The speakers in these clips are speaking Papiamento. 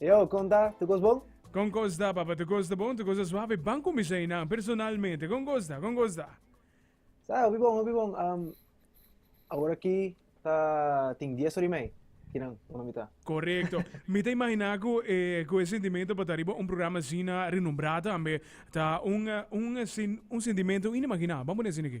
Yo, kon ta? Tu kos bon? Kon kos ta, papa? Tu kos ta bon? Tu kos ta suave? Ban kuminsá ei nan, personalmente. Kon kos ta? Kon kos ta? Sa, hopi bon, hopi bon. Um, awor aki ta tin dies ori mei. Kinan, una mi ta. Correcto. Mi te imaginá ku eh, ku e sentimento pa ta riba un programa asina renombrá tambe ta un eh, un eh, sen- un sentimento inimaginá. Ban pone asina ki.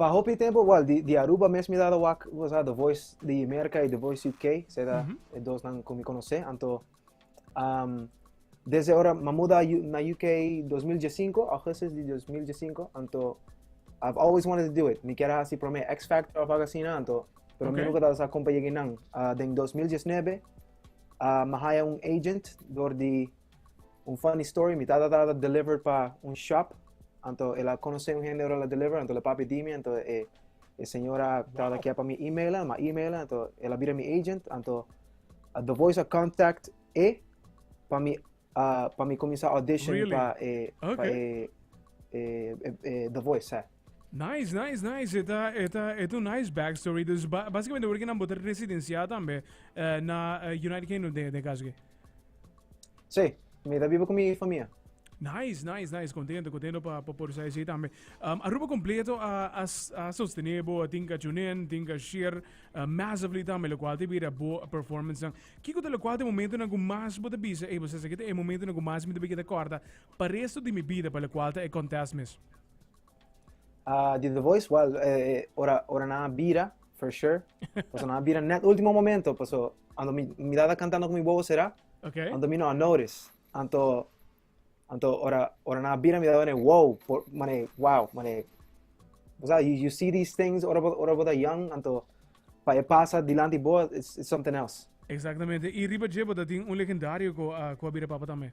Pa hopi tempo, well, di, di Aruba mes mi dado wak, cosa, The Voice di America y The Voice UK, seda, mm -hmm. dos nan con mi conoce, anto, um, desde ahora, ma muda na UK 2015, augustus di 2015, anto, I've always wanted to do it, mi quiera así prome X Factor of Agasina, anto, pero okay. mi nunca dado sa compa lleguinan, uh, den 2019, uh, ma haya un agent, door di, Un funny story, mi tata tata deliver pa un shop, anto el a conoce un hende la deliver, anto le papi di mi, anto e, e señora tata kia pa mi email, ma email, anto el a bira mi agent, anto uh, the voice a contact e pa mi uh, pa mi comienza audition really? pa e, okay. pa e, e, e, e, the voice, eh. Nice, nice, nice. Eta, eta, eta un nice backstory. Dus ba, basicamente porque nan botar residencia tambe eh, na eh, United Kingdom de, de caso que. Sí, mira vivo con mi familia. Nice, nice, nice. Contento, contento pa, pa por sair tambe. Um, Aruba completo a, a, a sostener bo, a tinka chunen, tinka share, uh, massively tambe, lo cual te bira bo performance nan. Kiko te lo cual te momento nan ku mas bo te bisa, eh, bo se sekete e momento nan ku mas mi te bekita corda, pa resto di mi vida, pa lo cual te e contest mes. Ah, di The Voice, well, eh, eh, ora, ora na bira, for sure. Paso na bira net último momento, paso ando mi, mi dada cantando con mi bobo será, Okay. ando mi no a notice. Anto, anto ora, ora na bira mi dada mané, wow, por, mané, wow, mané. O sea, you, you see these things, ora, bo- ora bota young, anto, pa e pasa dilanti bo, it's, it's something else. Exactamente. Y riba Jebo dat tin un legendario ko ah, ko abira papa también.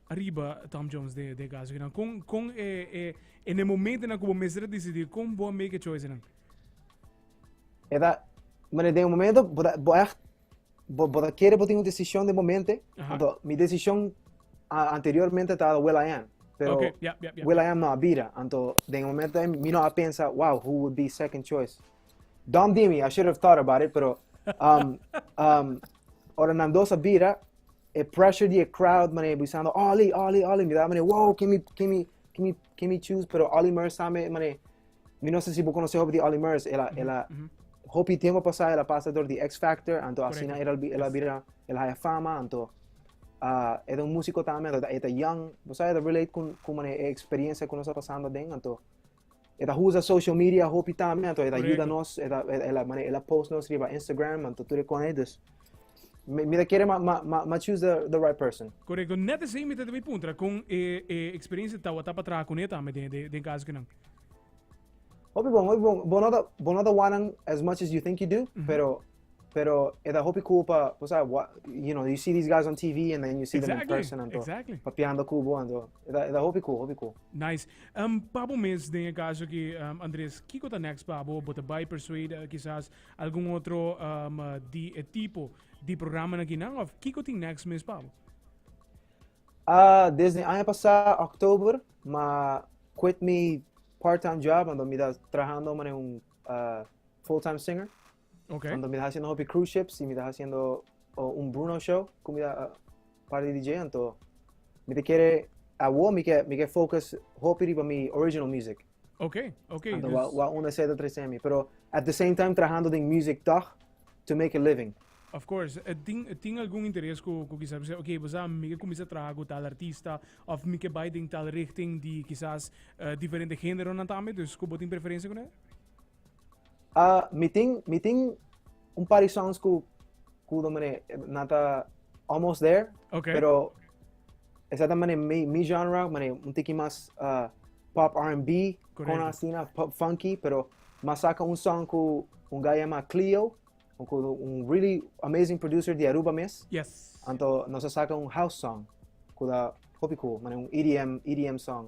Riba Tom Jones den e kaso kinan, kon, kon e, e, en e momentonan ku bo mester a disidí, kon bo a make e choicenan? E ta, mané, den un momento bo ta, bo ègt, bo, bo ta kere bo tin un desishon den momente, Aha. anto mi desishon a, anteriormente ta Will I Am, pero Ok, ja, ja, ja. Will I Am no a bira, anto den e momento ei mi no a pensa, wow, who would be second choice? Dom Dimi, I should have thought about it, pero um, um, Ora nan dos a bira, e pressure di e crowd, mané, buisando, Ollie, Ollie, Ollie. Mi daba, mané, wow, ken mi, ken mi, ken mi, ken mi choose? Pero Ollie Murs sa me, mané, mi no sa si bo konosé hopi di Ollie Murs. Ela, ela, hopi tempo pasá, ela pasa dor di X Factor, anto asina ela, ela bira, ela haya fama, anto, ah, e ta un músiko tambe, anto e ta young, bo sa, e ta relate ku, ku, mané, e experiencia ku nos a pasando aden, anto, E ta usa social media hopi tambe, anto e ta ayuda nos, e ta, e, la, mane, e la post nos riba Instagram, anto tur e kone, dus. Mi, mi ta kere ma, ma, ma, ma choose the, the right person. Correcto. Net así mi te debe puntra con eh, eh, experiencia tawa tapa traha con eta me den den den caso que nan. Hopi bon, hopi bon. Bonota bonota wanan as much as you think you do, mm -hmm. pero Pero e da hopi kubo pa, pues, ah, what, you know, you see these guys on TV and then you see them in Exactly, person and todo. exactly. Papiando kubo and todo. E da, e da hopi kubo, hopi kubo. Nice. Um, pabo mes, den e caso aquí, um, Andrés, Kiko ta next pabo? Bota by Persuade, uh, quizás algún otro um, uh, di e tipo di programa na Guinea? Of Kiko tin next mes pabo? Ah, desde año pasado, october, ma quit mi part-time job, ando mi da trabajando como un ah, full-time singer. Ok. Cuando mi ta haciendo hopi cruise ships y mi ta haciendo oh, un Bruno show, como mi ta uh, par de DJ, anto mi te quiere, a wo mi ke, mi ke focus hopi riba mi original music. Ok, ok. Anto dus... wa, wa una seta tres semi, pero at the same time trabajando den music toch, to make a living. Of course, eh, tin, eh, tin algún interés ku, ku quizás bisa, ok, bisa mi ke comienza trabajar ku tal artista, of mi ke bai den tal richting di quizás eh, diferente género nan tambe, dus ku bo tin preferencia ku ne? Uh, mi tin, mi tin un par songs ku ku do mene nata almost there. Okay. Pero esa ta mene mi, mi genre, mene un tiki mas uh, pop R&B, con asina pop funky, pero mas saca un song ku un guy llama Cleo, un, un really amazing producer di Aruba mes. Yes. Anto nos saca un house song, ku da hopi cool, mene un EDM, EDM song.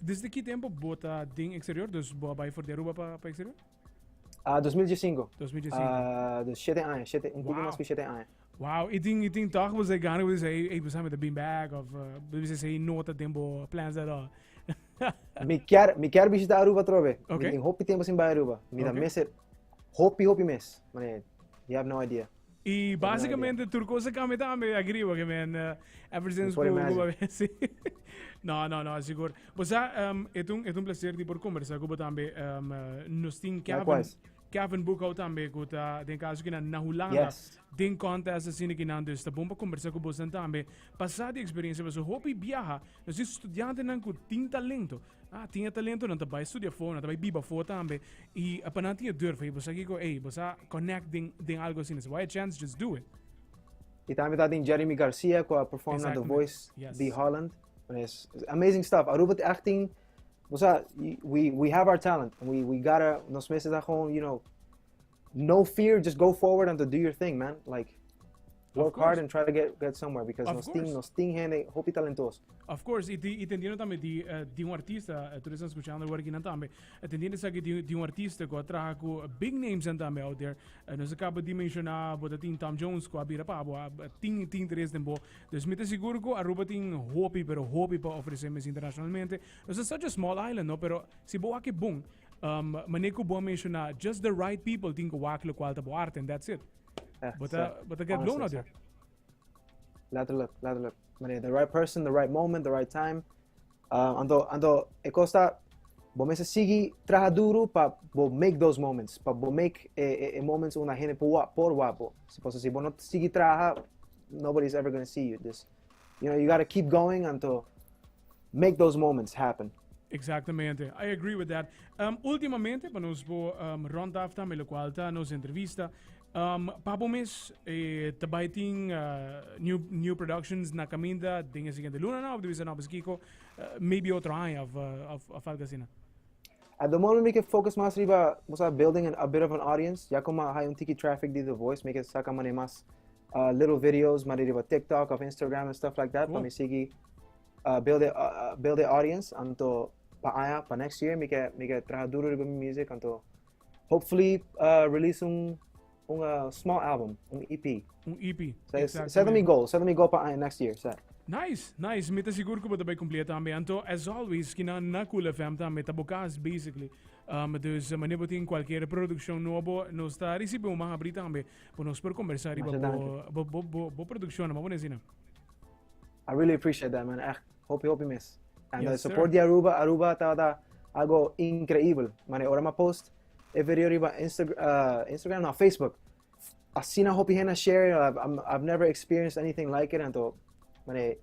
Desde ki tempo bo ta den eksterior? Dus bo a bai for di Aruba pa eksterior? Uh, 2015. 2015. Uh, dus shete aña, shete, un poco wow. mas ku shete aña. Wow, i tin, i tin toch bo zei gana, bo zei, ei, besame ta bin back, of, uh, bo zei nota den bo plans at all. mi kier, mi kier visita Aruba trove. Okay. Mi tin hopi tempo sin bai Aruba. Mi okay. da mese, hopi, hopi mes. Mane, you have no idea. Y básicamente tur cosa cambia también aquí arriba, que men, uh, ever since por Cuba, sí. no, no, no, seguro. O sea, um, es un, es un placer de por conversar con también, um, uh, nos tin Kevin. Likewise. Kevin Boekhout también, que está, den caso que na Holanda, yes. den contest así que nan, dus está bomba conversar con vos también, pasar de experiencia, vos hopi viaja, nos estudiantes nan con tin talento, Ah, tin e talento, nan ta bai studia afó, nan ta bai biba afó tambe. I a pa nan tin e durf, ei, bosa kiko, ei, bosa connect den, den algo asina. Si bo hay a chance, just do it. I tambe ta den Jeremy Garcia, ku a perform na The Exactamente. Voice Yes. di Holland. Bueno, es, es amazing stuff. Aruba ta echt tin, bosa, y- we, we have our talent. We, we gotta, nos mes ta gewoon, you know, No fear, just go forward and to do your thing, man. Like, work hard and try to get, get somewhere because nos ting, nos ting hene hopi talentoso. Of course, y, y entendiendo también di, uh, di un artista, uh, tú estás escuchando ahora aquí también, entendiendo que di, di un artista que trabaja con big names and también out there, uh, nos acaba de mencionar, bota tin Tom Jones, que abira pa, bo, tin, tin tres den bo, dus me te seguro que Aruba tin hopi, pero hopi pa ofrecer mes internacionalmente, nos es such a small island, no, pero si bo aquí boom, Um, manier ku bo menciona, just the right people tin ku wak lo kual ta bo arte, and that's it. But, uh, but I get blown out there. Letterlijk, letterlijk. Meneer, the right person, the right moment, the right time. Uh, ando, ando, e costa, bo mesa sigi traha duro pa bo make those moments, pa bo make e, e, e moments una hene por, por wapo. Si posa si bo no sigi traha, nobody's ever gonna see you. Dus, You know, you gotta keep going until make those moments happen. Exactamente, I agree with that. Um, ultimamente, para nos bo um, rond af también lo cual está nos entrevista. Um, papo mes, eh, tabay tin uh, new, new productions na caminda den el siguiente luna, no? Of de visa no, pues Kiko, uh, maybe otro año of, uh, of, of algo así, no? At the moment, we can focus más riba, o sea, building an, a bit of an audience. Ya como hay un tiki traffic de The Voice, make it saca mané más uh, little videos mari riba TikTok of Instagram and stuff like that mm. pa mi sigi uh, build a, uh, build a audience anto pa aya pa next year mi ke mi ke traha duro riba mi music anto hopefully uh, release un un uh, small album un EP un EP so, set mi goal set mi goal pa aya next year set Nice, nice. Mi te sigur ku bota bai kumplia tambe. Anto as always kina na Cool FM tambe ta bokas basically. Um, dus uh, manier botin cualquier producción nuevo nos ta recibe un más abri también. Bo nos por conversar riba bo, bo, bo, bo producción, ma bones zina. I really appreciate that, man. Echt, hopi, hopi mes. En yes, de support di Aruba, Aruba ta da algo increíble. Man, ora ma post e video riba Insta, uh, Instagram, no, Facebook. Así na hopi hena share, I've, I've never experienced anything like it, en to, man,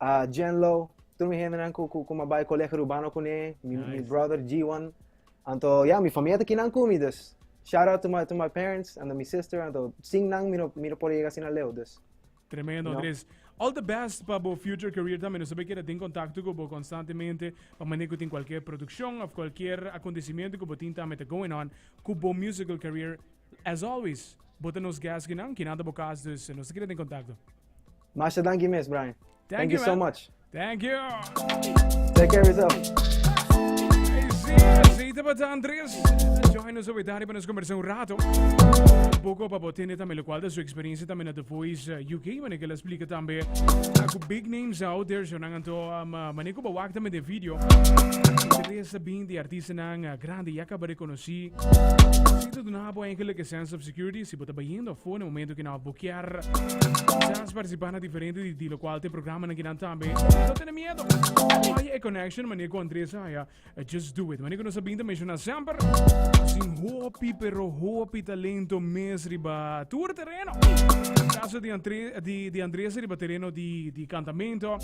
uh, Jen Lo, tur mi hendenan ku, ku, ku ma bai kolega rubano kune, mi, nice. mi brother G1. Anto, ya, yeah, mi familia ta kinan kumi, dus. Shout out to my, to my parents and to my sister, anto, sing nang mi no, mi no por llega sin a leo, dus. Tremendo, Andres. You know? All the best para bo future career también. Nos sabe que tin contacto con bo constantemente para manejo tin cualquier producción of cualquier acontecimiento que bo tin también está going on con bo musical career. As always, bo nos gas que nan, que nada bo cas, dus nos quiere tin contacto. Masha danki mes Brian. Thank you so much. Thank you. Take care of yourself. Así te pasa Andrés. Join nos hoy tarde para nos conversar un rato. Un poco para tener también lo cual de su experiencia también a The Voice eh, UK, wanneer que la explica también. Con big names out there, zo nangan to, um, eh, wanneer que bewak también de video. Interesse bien de artiesten aan eh, grande, ya acaba reconocí. Zit het na bo eigenlijk een sense of Security si bo ta bayiendo afó na momento ki nan a bokear. Quizás participá na diferente di di locual te programanan ki nan tambe. No tene miedo. Haja e connection manier cu Andres a haja. Just do it. Manier cu nos a binta menciona semper. Tin hopi pero hopi talento mes riba tur tereno. Caso di Andre di di Andres riba tereno di di cantamento.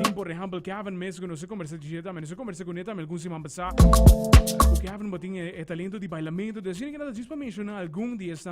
Tin por ehempel Kevin mes cu nos a conversa di tambe. Nos a conversa cune tambe algun siman Sa, ku ke happen batin e talento di bailamento di asina ke nan ta djis pa menshoná algun di esnan.